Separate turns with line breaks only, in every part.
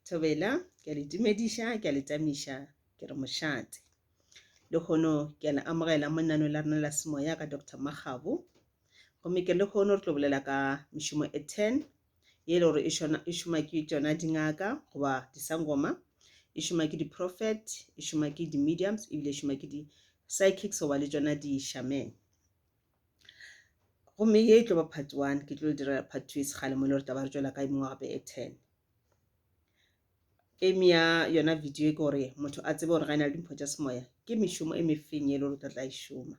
Thobela, ke a le tumediša, ke a le tamiša, ke re mošate. Lehono ke a le amogela mo nano la rena la semoya ka Doctor Makgabo. Gomme ke lehono re tlo bolela ka mešomo e ten ye e le gore e šona- e šoma ke tšona dingaka goba disangoma, e šoma ke di-prophet, e šoma ke di-mediums ebile e šoma ke di-psychics goba le tšona di-shaman. gomme ye e tlo ba part one ke tlo dira part two e segale mo e le gore taba re tšwela ka emengwe gape e ten eme ya yona video e ke gore motho a tsebe gore ga e na le dimpho tša semoya ke mešomo e mefeng ye e le gore o tla tla e šoma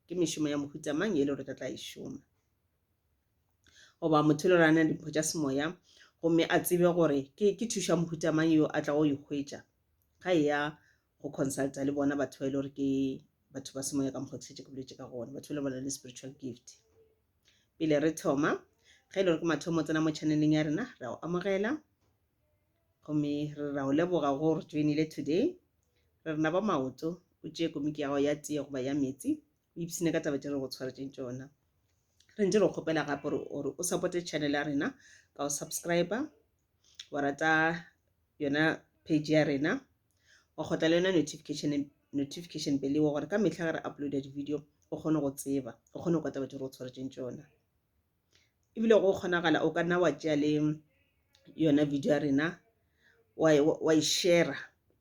ke mešomo ya mohuta mang ye e le gore o tla tla e šoma goba motho e le gore a na le dimpho tša semoya gomme a tsebe gore ke thuša mohuta mang yo a tla go e hwetša ga e ya go consulta le bona batho ba e le gore ke batho ba semoya ka mokgwa ke setse ke boletse ka gona batho ba le bona le spiritual gift pele re thoma ge e le gore ke mathomo o tsena mo channeleng ya rena ra o amogela gomme re ra o leboga go re joinile today re rena ba maoto o tšee komiki ya gago ya tee goba ya metsi o ipsene ka taba tse re go tshwaretseng tsona re ntse re kgopela gape gore o supporte channel ya rena ka go subscriber wa rata yona page ya rena wa kgotla le yona notification notification pele wa gore ka mehla ge re uploada di-video o kgone go tseba o kgone go kwata batho re o tshwaretseng tsona ebile go kgonagala o ka nna wa tšea le yona video ya rena wa e shera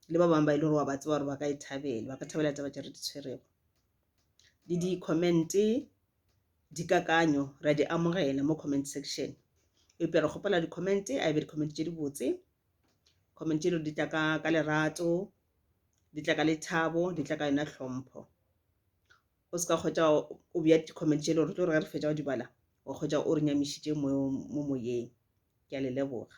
le ba bangwe ba e le gore wa ba tseba gore ba ka e thabela ba ka thabela taba tse re di tshwerego le di-commente dikakanyo ra di amogela mo comment section eupša re kgopela di-comment a ebe di-comment tše dibotse comment tše di tla ka ka lerato di tla ka lethabo di tla ka yona hlompho o se ka kgwetša o bja di-comment tše le gore tlo re ge re fetša go di bala wa kgwetša o re nyamišitše mo moyeng ke a le leboga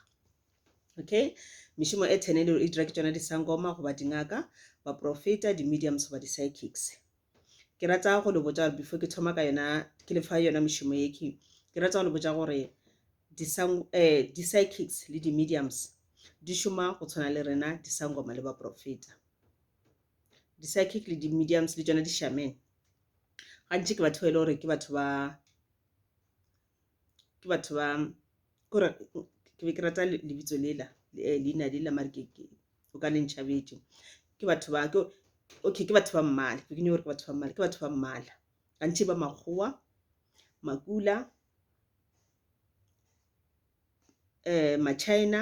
okay mešomo e ten e dira ke tsona disangoma goba dingaka baprofeta di-mediums goba di-psychics Ke rata go le botša gore before ke thoma ka yona ke le fa yona mošomo ye ke ke rata go le botša gore di-psychics eh, le di-mediums di šoma go tshwana le rena disangoma le baprofeta di-psychic le di-mediums le tšona di-shaman gantši ke batho ba e le gore ke batho ba ke batho ba kore ke be ke rata lebitso lela eh, leina lela mare ke o ka le ntšhabetše ke batho ba ke okay ke batho ba mmala ke nyoko gore ke batho ba mmala ke batho ba mmala gantši ba makgowa makula eh machina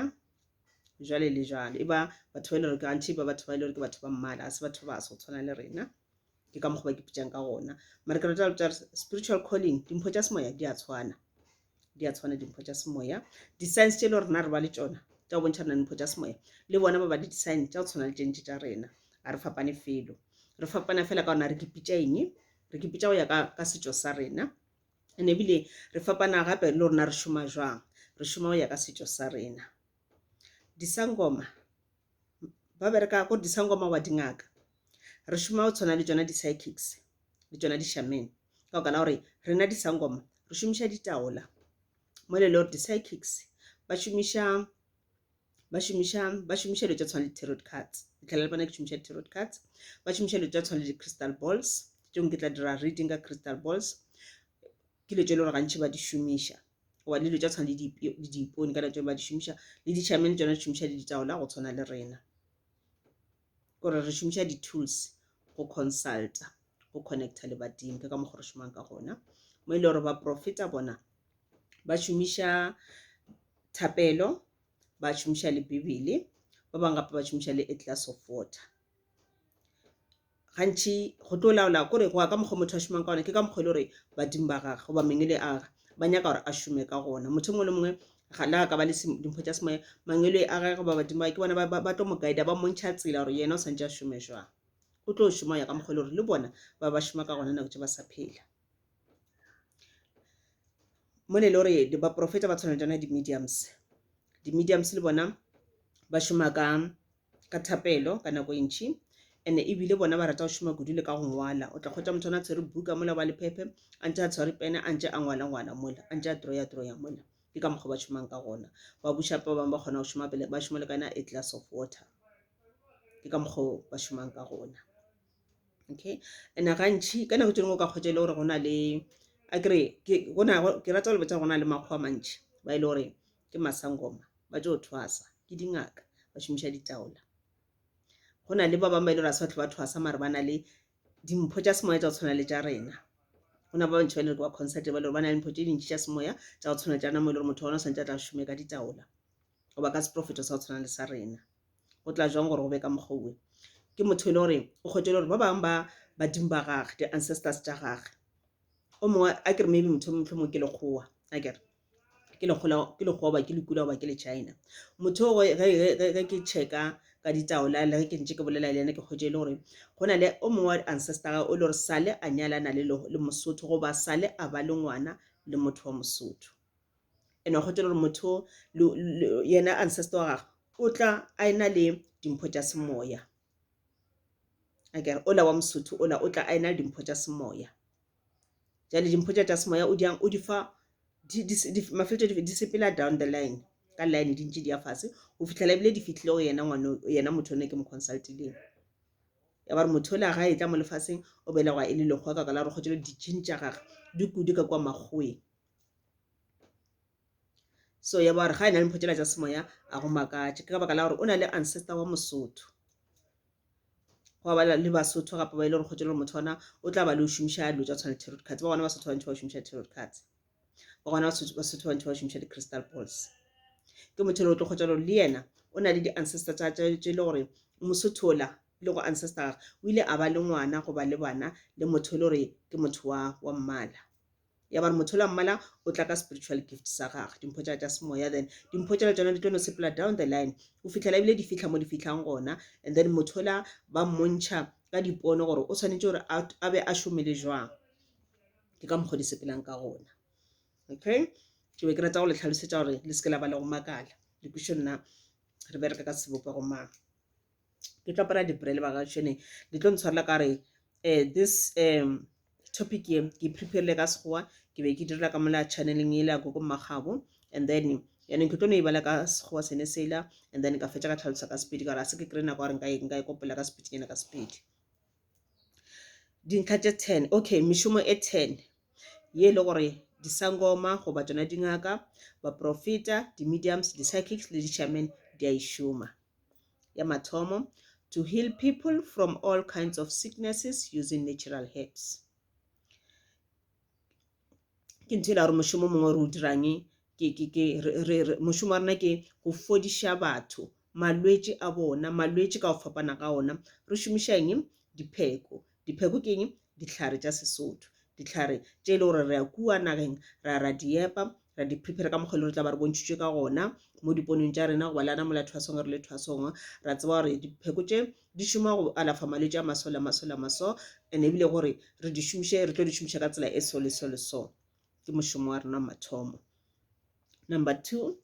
jwale le jwalo e ba batho ba e le gore gantši ba batho ba e le gore ke batho ba mmala ga se batho ba so tshwana le rena ke ka mokgwa ba ke putšang ka gona mara ke rata go botša spiritual calling dimpho tša semoya di a tshwana di a tshwana dimpho tša semoya di-science tše e le rena re ba le tšona tša go bontšha rena dimpho tša semoya le bona ba ba le di-science tša go tshwana le tšentše tša rena ga re fapane felo re fapana fela ka gona re kepitša eng re kepitša go ya ka setšo sa rena and ebile re fapana gape le rona re šoma jwang re šoma go ya ka setšo sa rena disangoma ba bereka ko disangoma wa dingaka re šoma go tshwana le tsona di-psychics le tsona di-shaman ka baka la gore rena disangoma re šomiša ditaola mo le le gore di-psychics ba šomiša ba šomiša ba šomiša dilo tsa tshwana le tarot cards ditlhela le bona ke šomiša di-tarot cards ba šomiša dilo tsa tshwana le di-crystal balls tšong ke tla dira reading ka crystal balls Ke dilo tše e le gore gantši ba di šomiša goba dilo tša tshwana le diipone ka nako ba di šomiša le ditšhamene tšona di šomiša le ditaola go tshwana le rena gore re šomiša di-tools go consulta go connecta le badimo ke ka mokgwa re šomang ka gona mo e le gore ba profeta bona ba šomiša thapelo ba šomiša le bibele ba bangwe gape ba šomiša le a glass of water gantši go tlo laola kore go ya ka mokgwa motho a šomang ka gona ke ka mokgwa e le gore badimo ba gage goba mangwele a gage ba nyaka gore a šome ka gona motho mongwe le mongwe ga le ka ba le dimpho tša semoya mangwele a gage goba badimo ke bona ba tlo mo guide ba montšha tsela gore yena o santse a šome jwang o tlo šoma ya ka mokgwa e le gore le bona ba ba šoma ka gona nako tse ba sa phela mo le gore baporofeta ba tshwana jana di-mediums di-mediums le bona ba šoma ka ka thapelo ka nako e ntšhi and ebile bona ba rata go šoma kudu le ka go ngwala o tla kgwetsa motho a tshwere buka mola ba lephephe a ntse a tshwere pene a ntse a ngwala ngwala mola a ntse a troya troya mola ke ka mokgwa ba šomang ka gona ba bušapa ba bangwe ba kgona go šoma pele ba šoma le ka yona a glass of water ke ka mokgwa ba šomang ka gona okay and gantšhi ka nako tse dingwe o ka kgwetsa e le gore go na le a kere ke rata go le botsa go na le makgwa mantšhi ba e le gore ke masangoma ba tšo thwasa ke dingaka ba šomiša ditaola go na le ba bangwe ba e le gore a se batho ba thwasa mare ba na le dimpho tša semoya tša go tshwana le tša rena go na ba bantšhi ba e le gore ba concert ba le gore ba na le mpho tše dintšhi tša semoya tša go tshwana le tša rena mo e le gore motho wa rona o swantse a tla šome ka ditaola goba ka seprofeto sa go tshwana le sa rena go tla jwang gore go be ka mokgwa uwe ke motho e le gore o kgwetele gore ba bangwe ba badimo ba gage di-ancestors tša gage o mongwe a kere maybe motho motlho mo ke lekgowa a kere ke lekgola ke lekgowa goba ke lekula goba ke le China motho o ge ge ke checka ka ditaola le ge ke ntse ke bolela le yena ke kgwetše e le gore go na le o mongwe wa ancestor o le gore sale a nyalana le le mosotho goba sale a ba le ngwana le motho wa mosotho ene wa kgwetše le gore motho yena ancestor wa gagwe o tla a ena le dimpho tša semoya akere ola wa mosotho ola o tla a ena le dimpho tša semoya. jale dimpho tša tša semoya o diang o di fa mafeletšo di sepela down the line ka line di ntše di ya fase go fitlhela ebile di fitlhile go yena ngwane yena motho o ne ke mo consultileng ya ba re motho o le ga e tla mo lefaseng o belegwa e le lekgwa ka ka la re kgotšelo dijing tša gage di kudu ka kwa makgoweng so ya ba gore ga e na le mpho tšela tša semoya a go makatše ke ka baka la gore o na le ancestor wa mosotho go ba le basotho gape ba e le gore kgotse le gore motho ona o tla ba le o šomiša dilo tša tshwana le tarot cards ba gona basotho bantši ba šomiša tarot cards ba gona basotho bantši ba šomiša di-crystal balls ke motho le o tlo kgotsa gore le yena o na le di-ancestor tsa tše e le gore mosotho ola le go ancestor o ile a ba le ngwana go ba le bana le motho e le gore ke motho wa wa mmala ya ba re motho la mmala o tla ka spiritual gift sa gage dimpho tša tša semoya then dimpho tšela tsona di tlo no sepela down the line o fitlhela ebile di fitlha mo di fitlhang gona and then motho la ba mmontšha ka dipono gore o tshwanetse gore a be a šomele jwang ke ka mokgwa di sepelang ka gona okay ke be ke rata go le tlhalosetsa gore le seke la ba le go makala le kwišo nna re bereka ka sebopego mang ke tlo apara dipre le baka tšhene di tlo ntshwarela ka re um this um topic ye ke preparile ka sekgowa ke be ke direla ka mola channeling ele ya gogo mmagabo and then yanong ke tlo no e bala ka sekgowa sene sela and then ka fetsa ka tlhalosa ka sepedi ka gore a se ke kry nako gore nka e kopela ka sepedinyana ka sepedi dintlha tše ten okay mešomo e ten ye e le gore disangoma goba tsona dingaka baprofeta di-mediums di-psychics le di-shaman di a e šoma Ya mathomo, to heal people from all kinds of sicknesses using natural herbs. Ke ntho e la gore mošomo mongwe re o dirang mošomo wa rena ke go fodiša batho malwetši a bona malwetši ka go fapana ga ona re šomiša eng dipheko Dipheko ke eng? Dihlare tša Sesotho, dihlare tše e le gore re a kua nageng ra ra di epa ra di prepare ka mokgwa e le gore tla ba re bontšhitšwe ka gona mo diponong tša rena goba le ana mola thwasong re le thwasong ra tseba gore dipheko tše di šoma go alafa malwetse a maso le maso le maso and ebile gore re di šomiše re tlo di šomiša ka tsela e so le so le so ke mošomo wa rena mathomo number two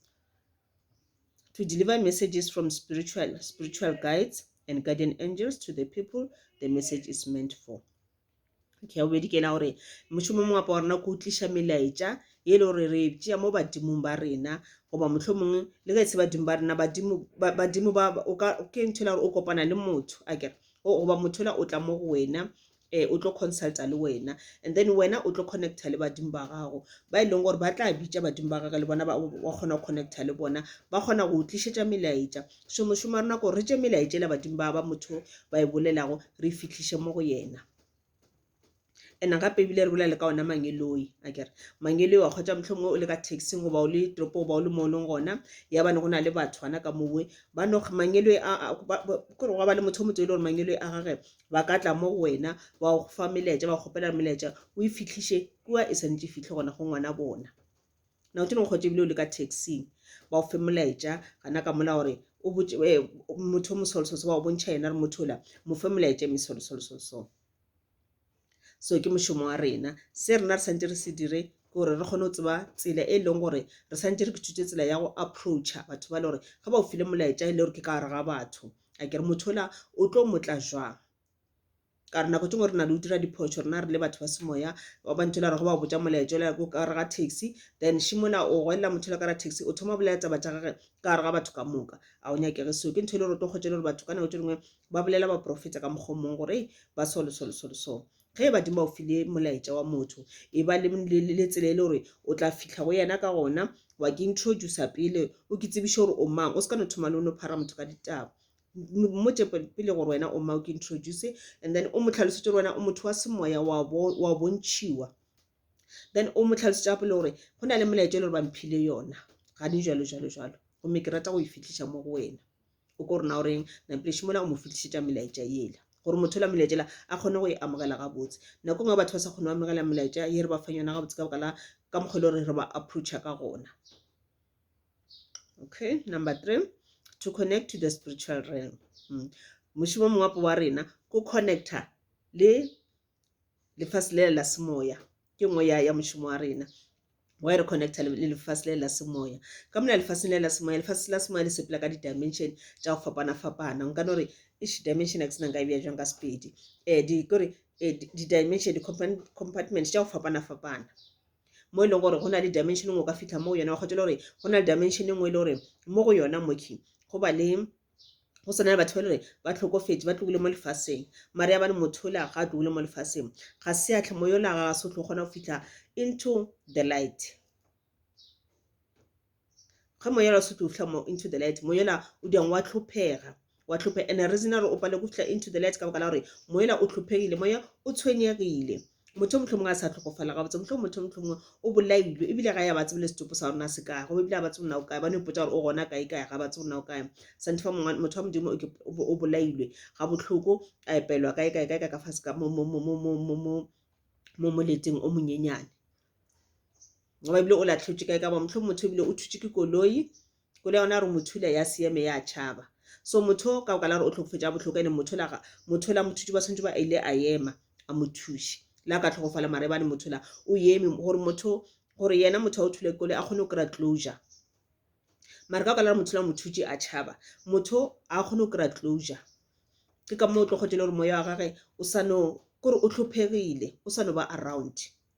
to deliver messages from spiritual, spiritual guides and guardian angels to the people the message is meant for okay o bedi kena gore mošomo mongwe apa wa rena ko tliša melaetša e le gore re tšea mo badimong ba rena goba motlho mongwe le ge e se badimo ba rena badimo ba o ka ke nthela gore o kopana le motho a kere goba motho la o tla mo go wena um o tlo consulta le wena and then wena o tlo connecta le badimo ba gago ba e leng gore ba tla bitša badimo ba gage le bona ba kgona go connecta le bona ba kgona go tlišetša melaetša so mošomo wa rena ko re tše melaetšela badimo ba ba motho ba e bolelago re e fitlhiše mo go yena and gape ebile re bolele ka ona mangeloi a kere mangeloi wa kgotsa motlho mongwe o le ka taxing goba o le tropo goba o le mo o leng gona ya bane go na le batho ana ka mowe ba no mangeloi kore gwa ba le motho o motho e le gore mangeloi a gage ba ka tla mo go wena ba go fa melaetša ba kgopela melaetša o e fitlhiše kua e swanetše e fitlhe gona go ngwana bona na o tšene kgotse ebile o le ka taxing ba o fe molaetša gana ka mola gore o botše eh, motho o mosolosoloso ba o bontšha yena re motho ola mo fe molaetša e mesolosolososo so ke mošomo wa rena se rena re santse re se dire ke gore re kgone go tseba tsela e leng gore re santse re kethutse tsela ya go approacha batho ba le gore ga ba o file molaetša e le gore ke ka gare ga batho a ke re motho ola o tlo motla jwang ka gore nako tse ngwe re na le o dira diphoso rena re le batho ba semoya ba ba ntho la re go ba botsa molaetso la ko ka re ga taxi then shimola o gwelela motho la ka ra taxi o thoma bolela taba tsa gage ka gare ga batho ka moka a o nyakege seo ke ntho e le gore o tlo kgotse le gore batho ka nako tse dingwe ba bolela ba profeta ka mokgwa mongwe gore ba solo solo solo solo ge badimo o file molaetša wa motho e ba le, le, le, le tsela e le gore o tla fihla go yena ka gona wa ke introduce pele o ke tsebiše gore o mang o se ka no thoma le o no phara motho ka ditaba mmotše pele gore wena o mang o ke introduce and then o mo tlhalosetse gore wena o motho wa semoya wa bo wa bontšhiwa then o mo tlhalosetse gape le gore go na le molaetša e le gore ba mphile yona gane jalo jalo jalo gomme ke rata go e fitlhiša mo go wena o ko rena o reng na pele šimola go mo fetišetša melaetša yela gore motho la melaetšela a kgone go e amogela gabotse nako ngwe batho ba sa kgone go amogela melaetša ye re ba fang yona gabotse ka baka la ka mokgwa e le gore re ba approacha ka gona okay number three to connect to the spiritual realm mm. mošimo mongwapo wa rena ko connecta le lefase lela la semoya ke nngwe ya, ya mošomo wa rena wa e re connecta le lefase le la semoya ka mona lefaseng le la semoya lefase la semoya le sepela ka di-dimension tša go fapana-fapana nka no re ish dimension a ke sena nka e bja jwang ka sepedi um di kore um di-dimension di-compartment tša go fapana-fapana mo e leng gore go na le dimension e nngwe o ka fitlha mo go yona wa kgotsa le gore go na le dimension e nngwe e le gore mo go yona moki go ba le go swana le batho ba e le gore ba tlhokofetše ba tlogile mo lefaseng mare ya bane motho yola ga a tlogile mo lefaseng ga se a tlhamo yola ga se o tlo kgona go fitlha into the light ga moya yola o se tlo fitlha mo into the light moya yola o diang wa tlhophega wa tlhophe and reason ya gore o pale go fitlha into the light ka baka la gore moya yola o tlhophegile moya o tshwenyegile motho o mohlomongwe a sa tlhokofala ga botse mohlomong motho o mohlomongwe o bolailwe ebile ga ya ba tsebile setopo sa rona se kae goba ebile ga ba tsebe o kae ba no ipotsa gore o gona kae kae ga ba tsebe o kae santhe fa mongwe motho wa modimo o bolailwe ga botlhoko a epelwa kae kae kae ka ka fase ka mo mo mo mo mo mo mo mo moleteng o monyenyane goba ebile o latlhetswe kae ka ba motlho motho ebile o thutse ke koloi Ko le yona re mothula ya seeme ya tšhaba. So motho ka boka la gore o tlhokofetša bohloko ene mothola ga mothola mothuti ba swantšwe ba ile a ema a mothuši la ka tlhogofala mare ba le mothola o eme gore motho gore yena motho a o thule kole a kgone go kry-a closure mare ka boka la gore mothola mothuši a tšhaba motho a kgone go kry-a closure ke ka moo o tlo kgotse le gore moya wa gage o sa no kore o tlhophegile o sa no ba around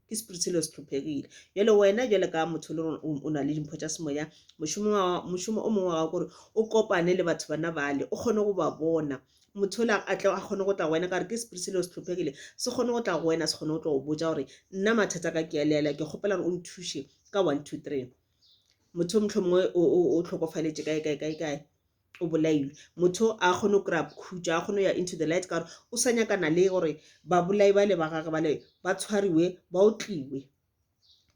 ke spirit se le se tlhophegile jale wena jale ka motho le o na le dimpho tša semoya mošomo o mongwe wa gago gore o kopane le batho bana bale o kgone go ba bona motho ola a tle a kgone go tla go wena ka gore ke spirit se le se tlhophegile se kgone go tla go wena se kgone go tla go botja gore nna mathata ka ke a leela ke kgopela gore o nthushe ka one two three motho motlho mongwe o tlhokofaletše kae kae kae kae o bolailwe motho a kgone go kry-a khutšo a kgone go ya into the light ka gore o sa nyakana le gore babolai ba le ba gage ba le ba tshwariwe ba otliwe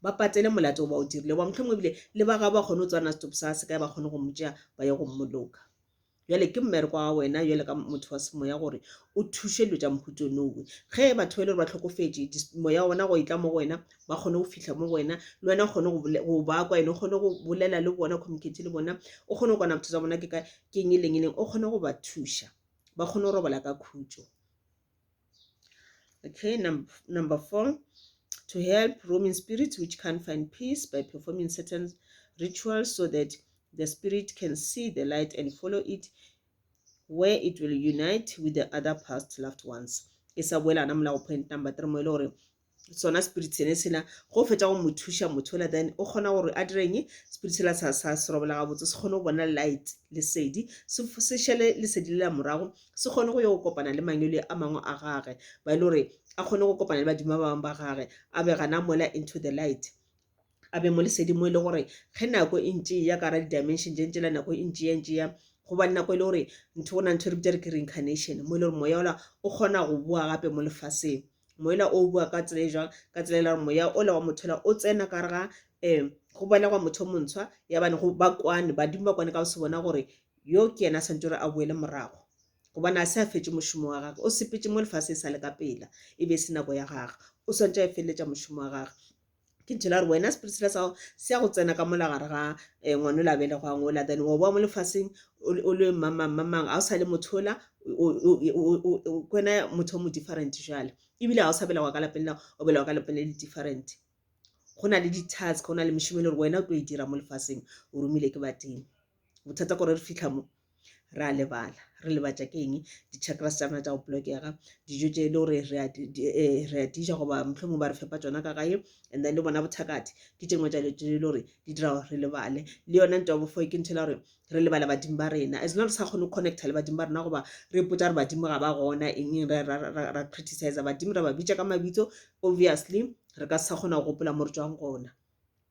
ba patele molato o ba o dirile ba mohlomongwe ebile le ba gabo ba kgone go tswana stop sa se kae ba kgone go mo tšea ba ye go mmoloka jale ke mmereko wa wena jale ka motho wa semoya gore o thuše dilo tša mohuto nowe ge batho ba e le gore ba tlhokofetše moya ona go etla mo go wena ba kgone go fitlha mo go wena le wena o kgone go ba kwa ene o kgone go bolela le bona communicate le bona o kgone go kwana botho tsa bona ke ka ke eng e leng e leng o kgone go ba thuša ba kgone go robala ka khutso okay number four to help roaming spirits which can't find peace by performing certain rituals so that the spirit can see the light and follow it where it will unite with the other past loved ones e sa boelana molago point number three mo e le gore sona spirit sene sena go fetša go mothuša motho ola then o kgona gore a direng spirit sela sa sa se robela gabotse se kgone go bona light lesedi se šele lesedi lela morago se kgone go yo go kopana le mangwele a mangwe a gage ba e le gore a kgone go kopana le badimo ba bangwe ba gage a be gana mola into the light a be mo lesedi mo e le gore ge nako e ntše ya kara di-dimension tše ntše la nako e ntše ya ntše ya goba nako e le gore ntho go na ntho e re bitša re ke reincarnation mo e le gore moya ola o kgona go boa gape mo lefaseng moela o boa ka tsela e jwang ka tsela e la gore moya ola wa motho ola o tsena ka re ga um go belegwa motho montshwa ya bane go ba kwane badimo ba kwane ka go se bona gore yo ke yena a santse gore a boele morago gobane a se a fetse mošomo wa gage o sepetse mo lefase e sa le ka pela e be e se nako ya gage o swantse a e feleletša mošomo wa gage ke ntho la re wena spirit sela sa gago se ya go tsena ka mola gare ga um ngwana o la belegwang ola then wa boa mo lefaseng o le mamang mamang ga o sa le mothola kwena motho o mo different jale ebile ga o sa belegwa ka lapeng la o belegwa ka lapeng le le different go na le di-task go na le mešomo e le gore wena o tlo e dira mo lefaseng o romile ke badimo bothata gore re fitlha mo re a lebala re lebatša ke eng di-chakras tša rena tša go blokega dijo tše e le gore re a eh, dija goba mohlomong ba re fepa tsona ka gae and then le bona bothakati ke tše ngwe tša dilo tše e le gore di dira gore re lebale le yona nto ya bofo ke nthela gore re lebala badimo ba rena as not re sa kgone go connecta le badimo ba rena goba re ipotsa gore badimo ga ba gona eng eng ra criticize badimo ra ba bitša ka mabitso obviously re ka se sa kgona go gopola mo re tswang gona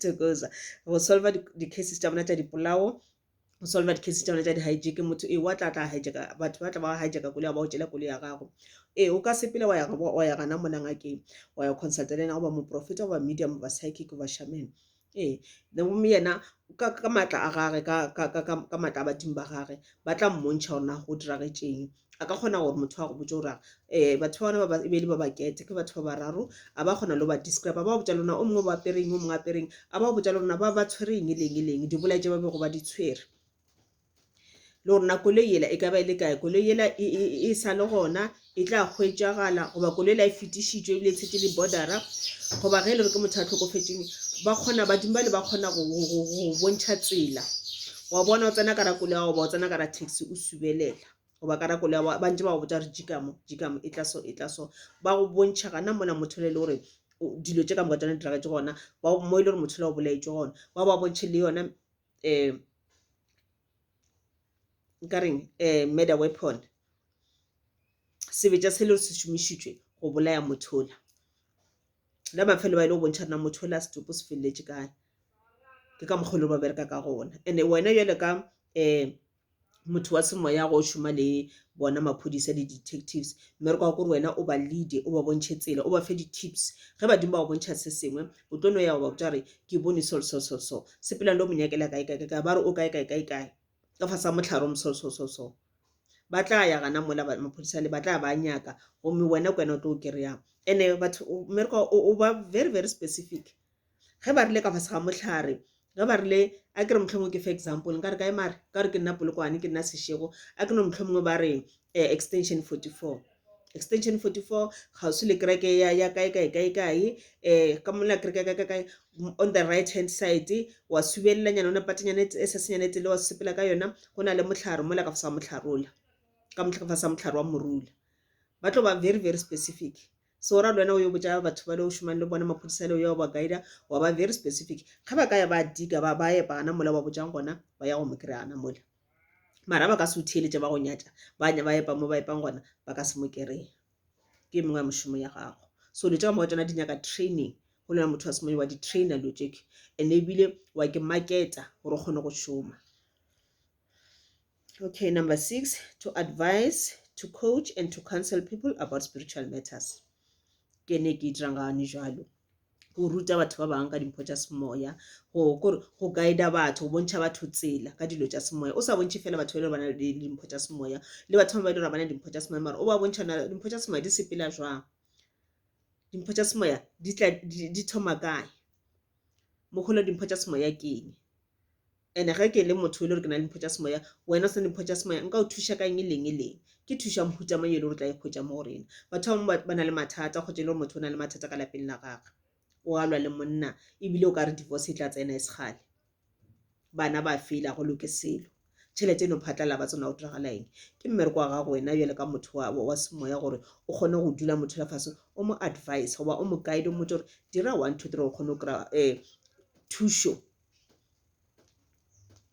tokoza go solva di-cases tša bona tša dipolao go solva di-cases tša bona tša di-hijake motho ee wa tla tla hijaka batho ba tla ba hijaka koloi ya ba o tšela koloi ya gago ee o ka sepele wa ya gana mona ngakeng wa ya consulta le ena goba moprofeta goba medium goba psychic goba shaman ee gomme yena ka maatla a gage ka maatla a badimo ba gage ba tla mmontšha gore na go diragetšeng a ka kgona gore motho a go botse gore um batho ba bona ba e be e le ba bakete ke batho ba bararo a ba kgona le go ba describe a ba go botsa lona o mongwe ba apereng o mongwe apereng a ba go botsa le rona ba ba tshwere eng e leng e leng di bolae tse ba bego ba di tshwere le gore na koloi ela e ka ba e le kae koloi ela e sale gona e tla hwetšagala goba koloi e la e fetišitšwe ebile e tshetše dibodara goba ge e le gore ke motho a tlhokofetseng ba kgona badimo bale ba kgona go bontšha tsela wa bona o tsena ka rakolo ya goba o tsena ka ra taxi o subelela goba ka rakolo ya goba ba ntse ba go botsa gore jikamo jikamo e tla so e tla so ba go bontšha gana mola motho le le gore dilo tše ka moka tsone di diragetse gona mo e le gore motho le o bolaetše gona ba ba bontšhe le yona eh, nkareng eh, murder weapon sebetša se le se šomišitšwe go bolaya mothola la mafelo ba ile go bontšha rena mothola setopo se feleletše kae ke ka mokgolo ba bereka ka gona and-e wena jale ka um motho wa semoya go šoma le bona maphodisa le detectives mme re kwa gore wena o ba leade o ba bontšhe tsela o ba fe di-tips ge badimo ba go bontšha se sengwe o tlo no ya go ba botsa gore ke bone sol sol sol so sepelang le o mo nyakela kae kae kae ba re o kae kae kae kae ka fa sa motlhare o mosol sol sol so ba tla ya gana mola maphodisa le ba tla ba nyaka gomme wena ke wena o tlo o kry-ang and-e batho mme re kwa o ba very very specific ge ba rile ka fase ga mohlare ge ba rile a ke re mohlomongwe ke fa example nka re ka emare ka gore ke nna polokwane ke nna sešego a ke no mohlomongwe ba re eh, extension 44 extension 44 kgauswi le kereke ya ya kae kae kae kae eh ka mola kereke ka kae on the right hand side wa subella nyana ona patinyane e sa senyane e tsele wa sepela ka yona go na le motlharo mola ka fasa motlharola ka motlha ka fasa motlharo wa morula ba tlo ba very very specific Se o ra le wena o yo botša batho bale o šomang le bona maphodisa ale o ya wa ba guider wa ba very specific ge ba ka ya ba dika ba ba epa gana mola wa botšang gona ba ya go mo kry gana mola mara ba ka se o theeletše ba go nyatša ba nya ba epa mo ba epang gona ba ka se mo kereye ke mengwe ya mošomo ya gago so dilo tša ka moka tsona di nyaka training go lona motho wa semonye wa di-trainer dilo tšeke and ebile wa ke marketa gore o kgone go šoma Okay, number six, to advise, to coach and to counsel people about spiritual matters. Ke ne ke dirang gane jalo go ruta batho ba bangwe ka dimpho tša semoya go kore go guida batho go bontšha batho tsela ka dilo tša semoya o sa bontšhe fela batho ba e le gore ba na le dimpho tša semoya le batho ba ba e le gore ba na le dimpho tša semoya mara o ba bontšha na dimpho tša semoya di sepela jwang dimpho tša semoya di tla di di thoma kae mogolo dimpho tša semoya ke eng And-e ge ke le motho e le gore ke na le mpho tša semoya, wena o se na le mpho tša semoya, nka o thuša ka eng e leng e leng? Ke thuša mohuta mang yo e le gore o tla e hwetša mo go rena? Batho ba bangwe ba, ba na le mathata, o kgotša e le gore motho o na le mathata ka lapeng la gagwe, o a lwa le monna, ebile o ka re divorce e tla tsena e se kgale. Bana ba fela, go loke selo. Tšhelete e no phatlala, ba tsena go diragala eng? Ke mmereko wa gago wena bjale ka motho wa, wa, wa semoya gore o kgone go dula motho la fase o mo advise goba o mo guide o mmotse gore dira one two three o kgone go kry-a um thušo.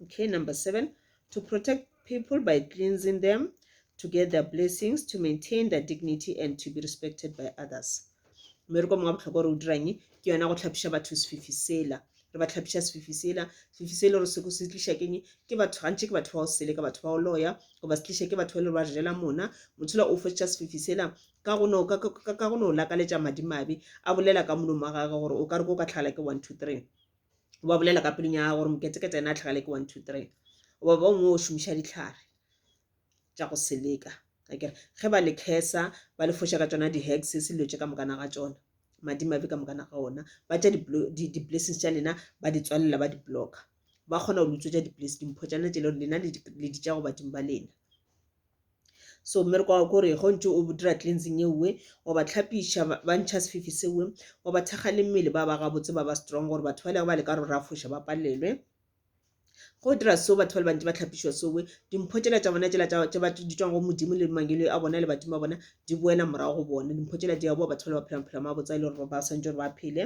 Okay, number seven, to protect people by cleansing them, to get their blessings, to maintain their dignity and to be respected by others. mmereko mongwe wa bohlokwa gore o dirang ke yona go tlhapiša batho sefifi sela re ba tlhapiša sefifi sela sefifi se le gore se se tliša keng ke batho gantši ke batho ba go sele ka batho ba go loya goba se tliša ke batho ba le ba jela mona motshola o fetša sefifi sela ka go no lakaletša madimabe a bolela ka molomo wa gage gore o ka re ko ka tlhagala ke one two three ba bolela ka pelong ya gage gore moketekete ena a tlhagale ke one two three goba ba bangwe o šomiša ditlhare tša go seleka akere ge ba le khesa ba le foša ka tšona di-hex selilo tše ka mokana ga tšona madimabe ka mokana ga ona ba tša di-blessings tša lena ba di tswalela ba di-block ba kgona go lutswetša di-place dimpho tša lena tše leo lena le di tša go badimo ba lena so mmereko wa kore go ntse o dira cleansing e nngwe wa ba tlhapiša ba ntšha sefifi sewe wa ba thekga le mmele ba ba gabotse ba ba strong gore batho ba lego ba le ka rora foša ba palelwe Ge o dira seo, batho ba le bantši ba hlapišwa sowe, dimpho tšela tša bona tšela tša ba di tšwang go Modimo le mangelo a bona le badimo ba bona di boela morago go bona. Dimpho tšela di a boa, batho ba le ba phela maphelo a mabotse a e le gore ba swantšwe gore ba phele.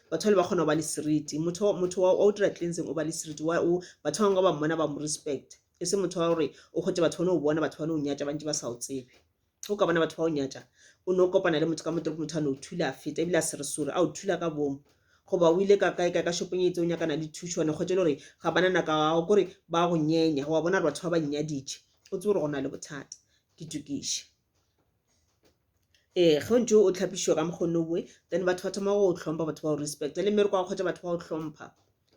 Batho ba le ba kgona go ba le seriti, motho motho wa o dira cleansing o ba le seriti, wa o batho ba bangwe ba mmona ba mo respect, e se motho wa gore o gotše batho ba no bona batho ba no nyatša ba ntše ba sa o tsebe. o ka bona batho ba o nyatša o no kopana le motho ka motorop motho a no thula a feta ebile a sere sore a o thula ka bomo goba o ile ka kae kae ka shopong e itse o nyakana le thušo wane kgwetše le gore ga bana nako ao kore ba go nyenya wa bona gore batho ba ba nnyaditše o tsebe gore go na le bothata ke tukiše ee ge o ntse o tlhapišiwa ka mokgone boe then batho ba thoma go tlhompha batho ba o respect le mmereko wa kgwetša batho ba o tlhompha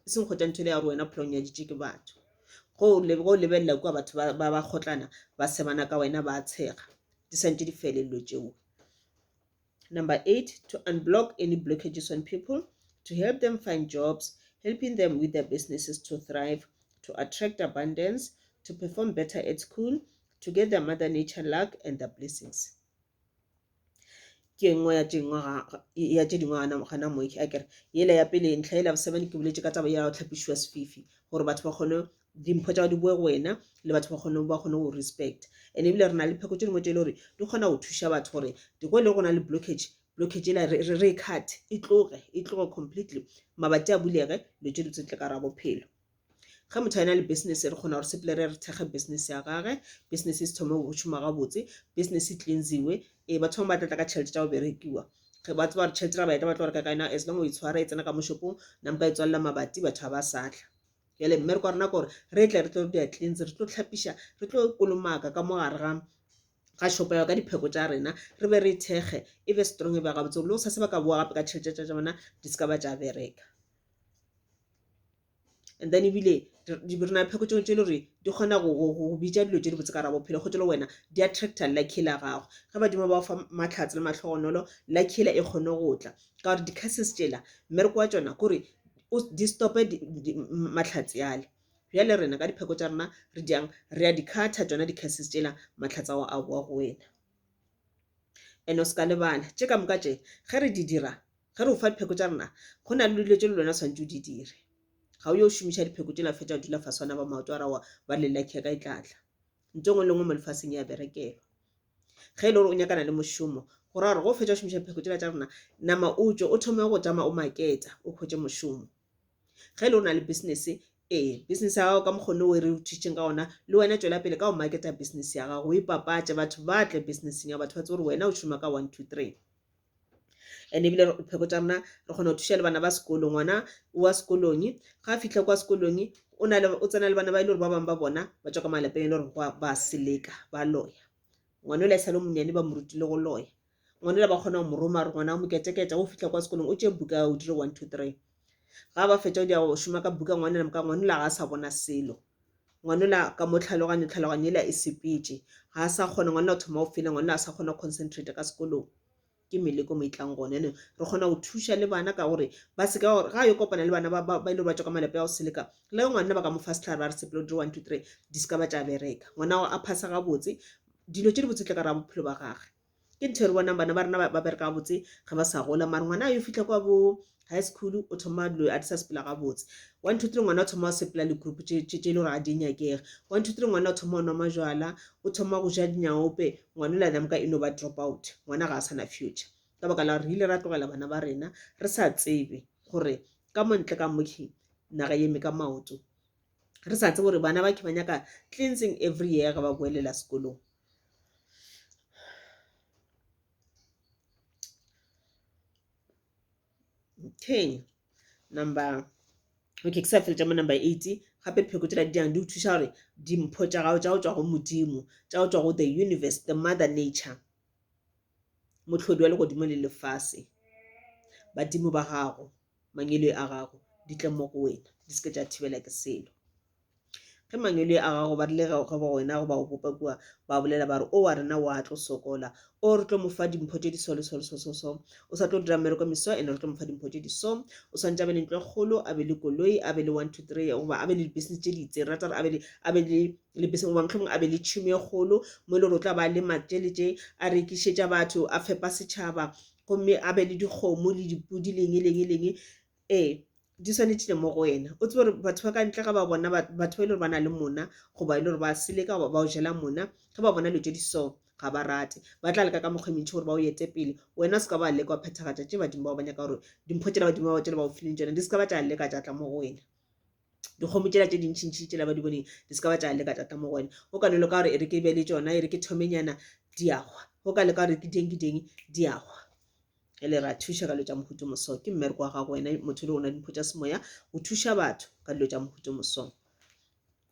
e seng kgotla ntho ya gore wena phela o nyaditše ke batho go go lebelela kua batho ba ba kgotlana ba sebana ka wena ba tshega di santse di felelelo tšeo number eight to unblock any blockages on people to help them find jobs helping them with their businesses to thrive to attract abundance to perform better at school to get their mother nature luck and their blessings ke e nngwe ya tše dingwe ga ya tše dingwe gana gana moe a kere yela ya pele ntlha yela seven ke boletše ka taba ya go tlhapišiwa sefifi gore batho ba kgone dimpho tša di boe go wena le batho ba kgone ba kgone go respect and ebile re na le pheko tše dingwe tše e le gore di kgona go thuša batho gore go e le go na le blockage blockage ela re re e cut e tloge e tloge completely mabati a bulege dilo tše di tse tle ka ra bophelo ge motho a na le business re kgona gore sepele re re thekge business ya gage business e se thome go šoma gabotse business e cleansiwe ee batho bangwe ba tlatla ka tšhelete tša go berekiwa ge ba tseba gore tšhelete ra baeta ba tlo reka ka yona as long o e tshwara e tsena ka moshopong nampa e tswalela mabati batho ga ba satla jale mmereko wa rena kore re tle re tlo dia cleans re tlo tlhapiša re tlo kolomaka ka mo gare ga ga shopo yao ka dipheko tša rena re be re thekge e be strong e be gabotse le o sa se ba ka boa gape ka tšhelete tša tša bona di se ka ba tša bereka and then ebile re na pheko tše le gore di kgona go bitša dilo tše dibotse ka gare bophelo gotse le wena di attractor lucky la gago ge badimo ba fa matlhatse le mahlogonolo lucky e kgone go tla ka gore di-curses tšela mmereko wa tšona kore di stop-e matlhatse ale. Bjale rena ka dipheko tša rena re jang re a di cutter tšona di-curses tšela matlhatse ao a bowa go wena. And o ska lebala tše ka moka tše ge re di dira, ge re ufa dipheko tša rena, go na le dilo tše le wena swanetše o di dire. Ga o yo šomiša dipheko tše la fetša dula fase wana ba maoto a rawa ba le lucky ka e tlatla. Ntho engwe le ngwe mo lefaseng ya berekelwa. Ge e le gore o nyakana le mošomo, go ra gore ge o fetša šomiša dipheko tšela tša rena, nama o tšwe o thome go tšama o maketa o khwetše mošomo. ge le o na le business ee business ya gago ka mokgone o e re o thutšeng ka ona le wena tšwela pele ka go marketa business ya gago o ipapatše batho ba tle businesseng ya batho ba tsebe gore wena o šoma ka one two three and ebile pheko tša rena re kgona go thuša le bana ba sekolo ngwana wa sekolong ga a fitlha kwa sekolong o na le o tsena le bana ba e le gore ba bangwe ba bona ba tswa ka malapeng e le gore ba seleka ba loya ngwana o la e sale monyane ba mo rutile go loya Ngwanela ba kgona go mo roma, a re, Ngwana, mo keteketa, wo fihla kwa sekolong, o tšee buka ya o dire one, two, three. Ga ba fetša go dia go šoma ka buka, ngwanela moka, ngwanela ga a sa bona selo. Ngwanela ka mo tlhaloganyo, tlhaloganyo yela e sepetše. Ga a sa kgona, ngwanela o thoma go fela, ngwanela a sa kgona go concentrate ka sekolong. Ke meleko mo e tlang gona. Yanong re kgona go thuša le bana ka gore ba se ka gore ga a yo kopana le bana ba ba ba ile ba tšwa ka malapa ya go seleka, le ge ngwanela ba ka mo fa sehlare ba re sepela o dire one, two, three, di se ka ba tša bereka. Ngwana gago a phasa gabotse, dilo tše dibotse di tla ka gare ga bophelo ba gagwe. ke ntho e re bonang bana ba rena ba bereka gabotse ga ba sa gola mare ngwana a yo fitlha kwa bo high school o thoma dilo a di sa sepela gabotse one two three ngwana o thoma go sepela legroup tse e le gore ga di nyakege one two three ngwana o thoma go nwa majwala o thoma go ja dinyaope ngwana o la namka e no ba drop out ngwana ga a sana future ka baka la gore re ile ra tlogela bana ba rena re sa tsebe gore ka montle ka mokhi naga eme ka maoto re sa tsebe gore bana ba khe ba nyaka cleansing every year ga ba boelela sekolong okay number okay ke sa fetša mo number eight gape dipheko tšela di yang di go thuša gore dimpho tša gago tša go tšwa go modimo tša go tšwa go the universe the mother nature mohlodi wa legodimo le lefase badimo ba gago mangele a gago di tle mo go wena di seke tša thibela ke selo Ge mangwele a gago ba rile ge ba wena go ba go bopa kua, ba bolela ba re, O wa rena o a tlo sokola. O re tlo mo fa dimpho tše di so le so le so so so. O sa tlo dira mmereko meso ene re tlo mo fa dimpho tše di so. O swantše a be le ntlo e kgolo, a be le koloi, a be le one, two, three goba a be le di-business tše di itseng. Re rata gore a be le, a be le le business goba mohlomong a be le tšhemo e kgolo mo e le gore o tla ba lema tše le tše, a rekišetša batho, a fepa setšhaba gomme a be le dikgomo le dipodi le eng le eng le eng. Ee, di swanetše le mo go wena o tsebe gore batho ba ka ntle ga ba bona batho ba e le gore ba na le mona goba e le gore ba seleka goba ba o jela mona ge ba bona dilo tše di so ga ba rate ba tla leka ka mokgwa e mentši gore ba o ete pele wena o se ka ba leka wa phethagatša tše badimo bao ba nyaka gore dimpho tšela badimo bao tšela ba o fileng tšona di se ka ba tša leka tša tla mo go wena dikgomo tšela tše dintšhintšhi tšela ba di boneng di se ka ba tša leka tša tla mo go wena o ka no leka gore e re ke be le tšona e re ke thomenyana diagwa o ka leka gore ke ding ke ding diagwa ge le re a thuša ka dilo tša mohuto moso ke mmereko wa gago wena motho le ona dimpho tša semoya o thuša batho ka dilo tša mohuto moso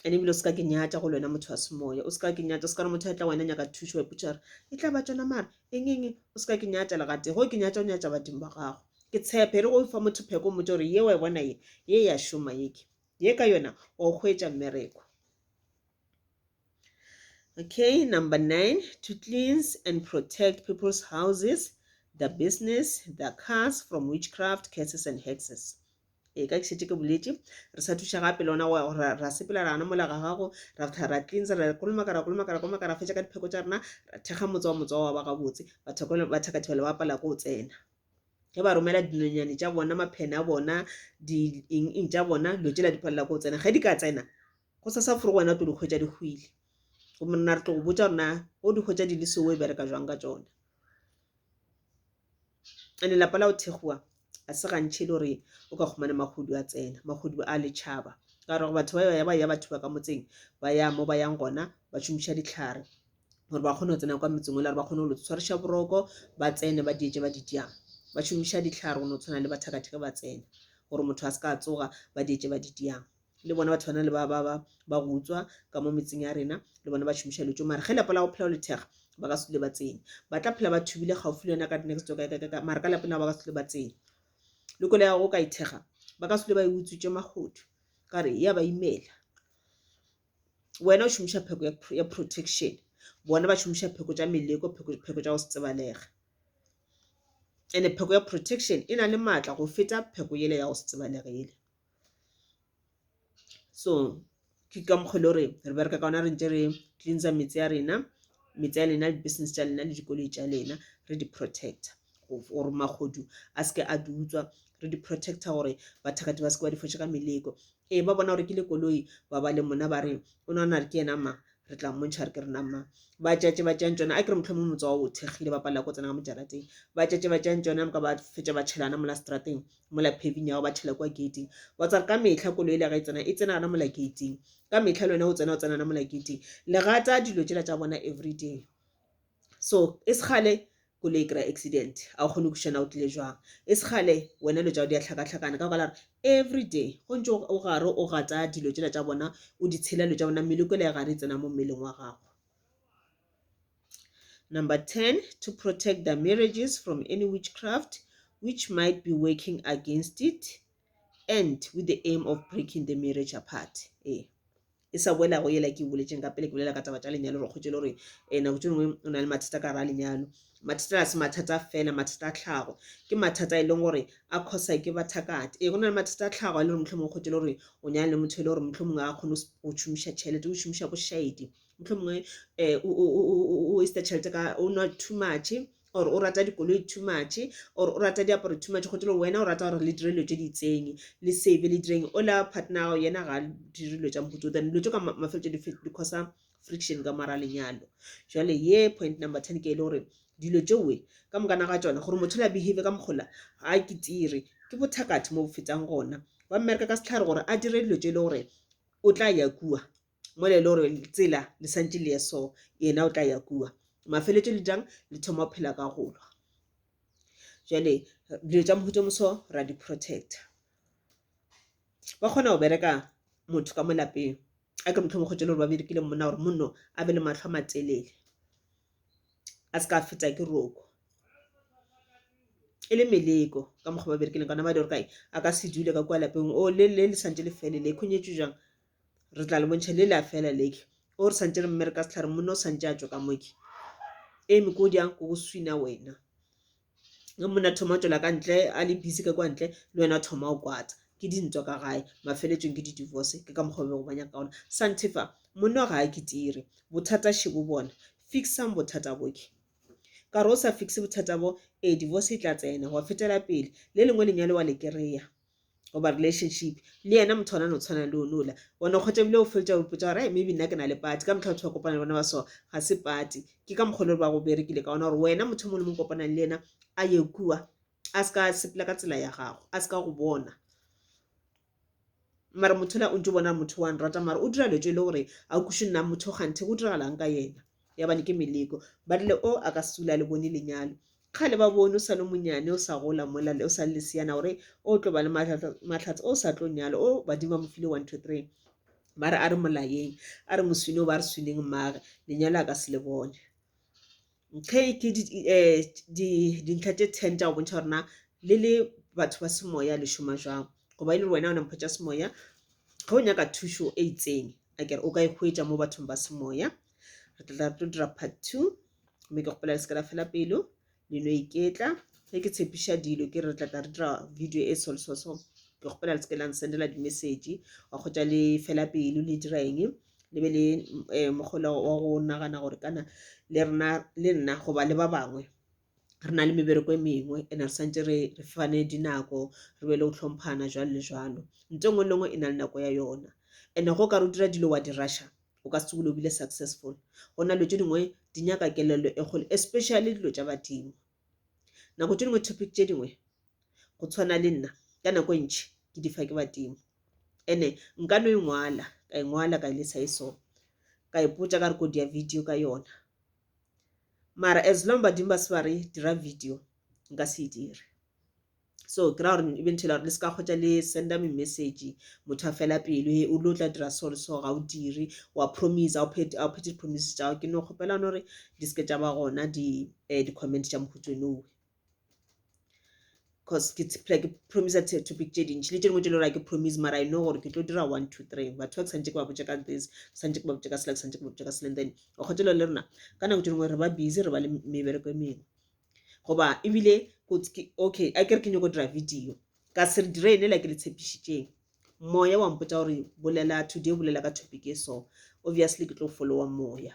ene ebile o seka ke nyatša go le wena motho wa semoya o seka ke nyatša o seka re motho a tla wena nyaka thušo wa ipotšare e tla ba tsona mara eng eng o seka ke nyatša legate go ke nyatša o nyatša badimo ba gago ke tshepe re go fa motho pheko motho gore ye wa e bona ye ye ya šoma yeke ye ka yona wa o hwetša mmereko Okay, number nine, to cleanse and protect people's houses, the business, the cars from witchcraft, curses and hexes. e ka šetše ke boletše re sa thuša gape le ona ra sepela rana mola ga gago ra fitha ra cleansa ra kolomaka ra kolomaka ra kolomaka ra fetša ka dipheko tša rena ra thekga motse wa motse wa ba gabotse bathakathibelo ba pala ko o tsena ge ba romela dinonyane tša bona maphene a bona di eng eng tša bona dilo tšela di phalela ko o tsena ge di ka tsena Go sa sa furu wena o tlo di hwetša di hwile. Gomme rena re tlo go botša rena o di hwetša di le seo e bereka jwang ka tšona. Ene lapa la go thekgowa a se gantšhe le gore o ka kgomane mahodu a tsena mahodu a letšhaba ka gore batho ba ya ba ya batho ba ka motseng ba ya mo ba yang gona ba šomiša ditlhare gore ba kgone go tsena kwa metseng le gore ba kgone go tshwariša boroko ba tsene ba dietse ba ditjang ba šomiša ditlhare go no tshwana le bathakatheke ba tsena gore motho a se ka tsoga ba dietse ba ditjang le bona batho bana le ba ba ba ba go utswa ka mo metseng ya rena le bona ba šomiša dilo tso mara ge lapa la go phela go lethega ba ka se dule ba tsene ba tla phela ba thubile gaufi le yona ka next door ka mara ka lapeng la ba ka se dule ba tsene le kole ya go ka ithega ba ka se dule ba e utswitse magodu ka re ya ba imela wena o šomiša pheko ya pro- ya protection bona ba šomiša pheko tša meleko pheko pheko tša go se tsebalega ene pheko ya protection e na le maatla go feta pheko yele ya go se tsebalege yele so ke ka mokgwa e le gore re bereka ka ona re ntse re cleansa metse ya rena metse ya lena di-business tša lena le dikoloi tša lena re di-protector gore magodu a seke a di utswa re di-protector gore bathakati ba seke ba di fotše ka meleko ee ba bona gore ke le koloi ba ba le mona ba re o nagana re ke yena ma re tla mmontšha re ke rena ma ba tšatše ba tšang tsona a ke re motlho mo motse wa o thekgile ba palela ko tsena ka mojarateng ba tšatše ba tšang tsona moka ba fetša ba tšhelana mola strateng mola paving ya go ba thela kwa gating wa tsare ka mehla koloi le ga e tsena e tsena gana mola gating ka mehla le wena o tsena o tsena gana mola gating le gata dilo tšela tša bona everyday so e segale koloi e kry-a accident a o kgone go kušana o tlile jwang e segale wena dilo tšao di a hlakahlakana ka gala re everyday go ntse o gare o gata dilo tšela tša bona o di tshela dilo tša bona mmele kwela ya gare e tsena mo mmeleng wa gago Number 10, to protect their marriages from any witchcraft which might be working against it and with the aim of breaking the marriage apart. Eh. e sa boela go yela ke boletseng ka pele ke bolela ka taba tša lenyalo re kgotse le gore um nako tse dingwe o na le mathata ka ra lenyalo mathata a se mathata fela mathata a tlhago ke mathata e leng gore a khosa ke bathakate ee go na le mathata a tlhago a le gore motlho mongwe kgotse le gore o nyana le motho e le gore motlho mongwe a kgone go šomiša tšhelete o šomiša bošaedi mohlomongwe o waste tšhelete ka o nwa too much or o rata dikoloi too much or o rata diaparo too much gotelo wena o rata gore le dire dilo tse di itseng le save le direng ola partner ya gago yena ga dire dilo tša mohuta o then dilo tse ka mafelelo tše di causa friction ka mora lenyalo jale ye point number ten ke e le gore dilo tšewe ka mokana ga tsona gore motho la behave ka mokgola ga ke tire ke bothakathe mo bo fetang gona ba mmereka ka setlhare gore a dire dilo tše e le gore o tla ya kua mo le gore tsela le santse le ye so yena o tla ya kua mafeletso le jang le thoma go phela ka golwa jale dilo tša mohuto moso ra di protecta ba kgona go bereka motho ka mo lapeng a ke motlhomo kgotse le gore ba berekile monna gore monno a be le matlho a matelele a se ka fetsa ke roko e le meleko ka mokgwa ba berekileng kana ba di gore kae a ka se dule ka kwa lapeng o le le le santse le felele e khonyetso jang re tla le bontšha le le a fela leke o re santse re mme re ka setlhare monna o santse a tswa ka moke eme ko di yang ko go swina wena ge monna thoma o tswela ka ntle a le busy ka kwa ntle le wena thoma o kwatsa ke dintwa ka gae mafeletsong ke di-divorce ke ka mokgwa bego ba nyaka ka ona santefa monna ga a kitire bothata shebo bona fixang bothata boke ka re o sa fixe bothata bo ee divorce e tla tsena wa fetela pele le lengwe lenyalo wa le kry-a goba relationship le yena motho ona no tshwana le onola ona kgotsa ebile o fetsa o ipotsa gore maybe nna ke na le party ka motlha batho ba kopana le bona ba so ga se party ke ka mokgwa le ba go berekile ka ona gore wena motho mongwe le mongwe kopanang le ena a ye kua a se ka sepela ka tsela ya gago a se ka go bona mara motho la o ntse o bona motho wa nrata mara o dira letswe le gore a kuše nna motho ganthe go diragalang ka yena ya bane ke meleko ba rile o a ka sula le bone lenyalo kgale ba bone o sa le monyane o sa gola mola le o sa le lesiyana gore o tlo ba le mahlatse o sa tlo nyalo o badimo ba mo file one two three ba re a re molayeng a re moswine o ba re swineng mmage lenyalo a ka se le bone ge ke eh, dintlha tše ten tša go bontšha gorena le le batho ba semoya le šoma jwang goba e le gore wena o na mpho tša semoya ge o nyaka thušo e itseng a kere o ka e hwetša mo bathong ba semoya re tla re tlo dira part two mme ke kgopela le se ka la fela pelo le no iketla ge ke tshepiša dilo ke re tla tla re dira video e solsoso ke kgopela le se ke la nsendela dimessage wa kgotša le fela pelo le dira eng le be le um eh, mogola wa go nagana gore kana le rena le nna goba le ba bangwe re na le mebereko e mengwe ene re santse re re fane dinako re be le go tlhomphana jwalo le jwalo nto engwe le engwe e na le nako ya yona ene go ka re o dira dilo wa di rusha o ka se tsogile o bile successful go na dilo tse dingwe di nyaka kelello e kgolo especially dilo tša badimo nako tse dingwe topic tše dingwe go tshwana le nna ka nako e ntšhi ke di fa ke badimo ene nka no e ngwala ka e ngwala ka e lesa e so ka ipotsa ka re kodi ya video ka yona mara as long badimo ba se ba re dira video nka se e dire so ke ra gore e bentšhela gore le se ka kgotsa le senda me message motho a fela pelo he o lo tla dira so le so ga o dire wa promise a o phete promise tša ke no kgopela gore di seke tša ba gona di eh, di comment tša mohutswenowe cause ke phela ke promise topic tše dintši le tše dingwe tše le gore ke promise mara i know gore ke tlo dira one two three batho ba ke santse ke ba botse ka this ke santse ke ba botse ka sela ke santse ke ba botse ka sela then o kgotelo le rena ka nako tše dingwe re ba busy re ba le mebereko e mengwe goba ebile okay a kere ke nyoko dira video ka se re dire ene la ke le tshepišitšeng moya wa mpotsa gore bolela today bolela ka topic e so obviously ke tlo followa moya